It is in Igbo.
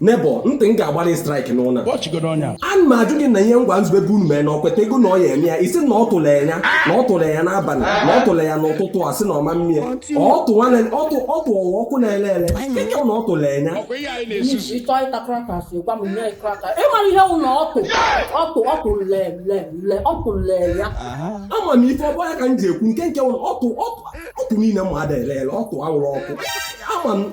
nebo ntị m ga-agbara straik n'ụlọ a na m ajụ gị na ihe ngwa nzube bụ unu mere na ọkweta ego na ọ ya eme ya isi na ọ tụrụ ya na ọ tụrụ ya n'abalị na ọ tụrụ ya n'ụtụtụ a sị na ọma mmiri ọ tụ ọwa ọkụ na-ele ele ike na ọ tụrụ ya ịmara ihe ụlọ ọtụ ọtụ ọtụ lele ọtụ lele ya ama m ife ọbụ ya ka m ji ekwu nke nke ụlọ ọtụ ọtụ niile mmadụ ele ele ọtụ awụrụ ọkụ ama m